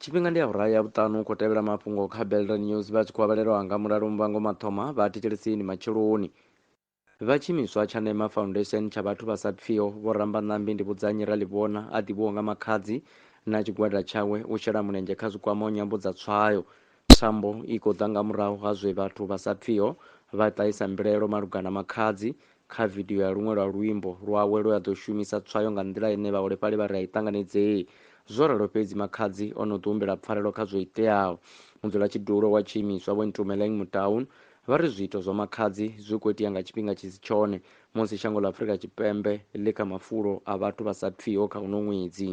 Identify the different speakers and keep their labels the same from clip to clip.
Speaker 1: tshifhinga ndi awara ya vhuṱanu khou tevhela mafhungo kha belton news vha tshi khou avhalelwa nga mulalo muvhango mathoma vha thetshelesini matsheloni Vha tshiimiswa tsha Nema Foundation tsha vhathu vha sa pfiho, Vho Rambanambi Ndivhudzannyi Raḽivhona a ḓivhiwaho nga Makhadzi na tshigwada tshawe u shela mulenzhe kha zwikwamaho nyambo dza tswayo. Thambo i khou ḓa nga murahu ha zwe vhathu vha sa pfiho vha ṱahisa mbilaelo malugana na Makhadzi kha vidio ya luṅwe lwa luimbo lwawe lwe a ḓo shumisa tswayo nga nḓila ine vhaholefhali vha ri a i ṱanganedzei. Zwo ralo fhedzi, Makhadzi o no ḓihumbela pfarelo kha zwo iteaho. Mudzulatshidulo wa tshiimiswa Vho Ntumeleng Motaung Vha ri zwiito zwa Makhadzi zwi khou itea nga tshifhinga tshi si tshone musi shango ḽa Afrika Tshipembe ḽi kha mafulo a vhathu vha sa pfiho kha uno ṅwedzi.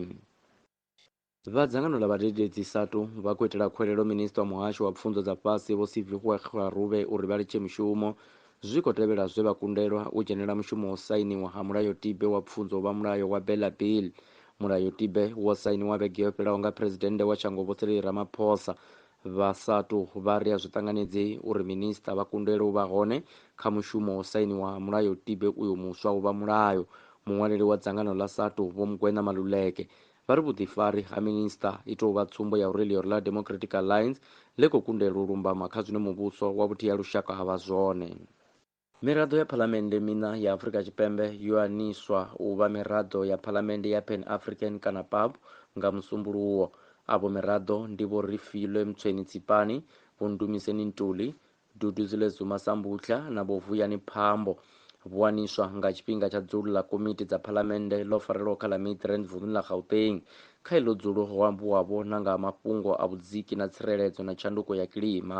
Speaker 1: Vha dzangano ḽa vhadededzi, SADTU, vha khou itela khuwelelo Minisiṱa wa Muhasho wa Pfunzo dza Fhasi Vho Sivihoe Kgarube uri vha litshe mushumo zwi khou tevhela zwe vha kundelwa u dzhenela mushumo wo sainiwa ha mulayotibe wa pfunzo wa mulayo wa Bela Bill. Mulayotibe wo sainiwa vhege yo fhelaho nga Phresidennde wa shango Vho Cyril Ramaphosa Vha SATU vha ri a zwi ṱanganedzei uri minisiṱa vha kundelwe u vha hone kha mushumo wo sainiwa ha mulayotibe uyo muswa u vha mulayo. Muṅwaleli wa dzangano ḽa SATU, Vho Mokoena Maluleke, vha ri vhuḓifari ha minisiṱa i tou vha tsumbo ya uri ḽioro ḽa Democratic Alliance ḽi khou kundelwa u lumbama kha zwine muvhuso wa vhuthihi ha lushaka ha vha zwone. Miraḓo ya phalamennde miṋa ya Afrika Tshipembe yo aniswa u vha miraḓo ya phalamennde ya Pan African kana PAP nga Musumbuluwo. Avho miraḓo ndi Vho Refilwe Mtsweni Tsipani, Vho Ndumiseni Ntuli, Dududzile Zuma Sambutlha na Vho Vuyani Phambo. Vho aniswa nga tshifhinga tsha dzulo ḽa komiti dza phalamennde ḽo farelwaho kha ḽa Midrand vunḓuni ḽa Gauteng. Kha iḽo dzulo ho ambiwavho na nga ha mafhungo a vhudziki na tsireledzo na tshanduko ya kilima.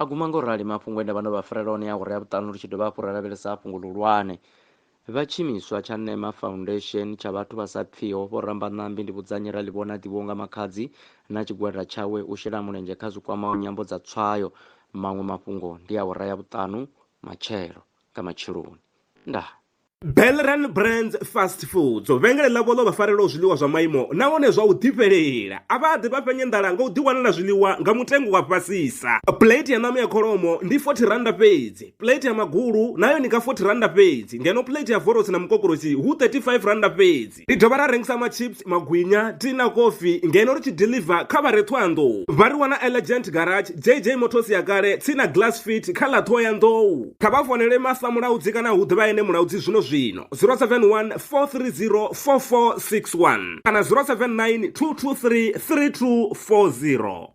Speaker 1: A guma nga u rali mafhungo e nda vha ndo vha farela one a awara ya vhuṱanu ri tshi dovha hafhu ra lavhelesa fhungo ḽihulwane. Vha tshiimiswa tsha Nema Foundation tsha vhathu vha sa pfiho, Vho Rambanambi Ndivhudzannyi ra ḽi vhona ndivhuwo nga Makhadzi na tshigwada tshawe u shela mulenzhe kha zwi kwamaho nyambo dza tswayo. Maṅwe mafhungo ndi awara ya vhuṱanu matshelo nga matsheloni. Ndaa. Belran
Speaker 2: Brands Fast Foods vhengele ḽavho ḽo vha farelaho zwiḽiwa zwa maimo nahone zwa u ḓifhelela a vha ḓi vha fhenye nḓala nga u ḓiwanela zwiḽiwa nga mutengo wa fhasisa plate ya ṋama ya kholomo ndi 40 randa fhedzi plate ya magulu nayo ni nga 40 randa fhedzi ngeno plate ya vorosi na mukokorosi hu 35 randa fhedzi University. Ri dovha ra rengisa machips, magwinya, tea na kofi ngeno ri tshi deliver kha vha re Ṱhohoyanḓou. Vha ri wana Elegant Garage, JJ Motors ya kale, tsini na Glass Fit kha ḽa Ṱhohoyanḓou. Kha vha founele Masa Mulaudzi kana hu ḓivha ene Mulaudzi zwino zwino 071 430 4461 kana 079 223 3240.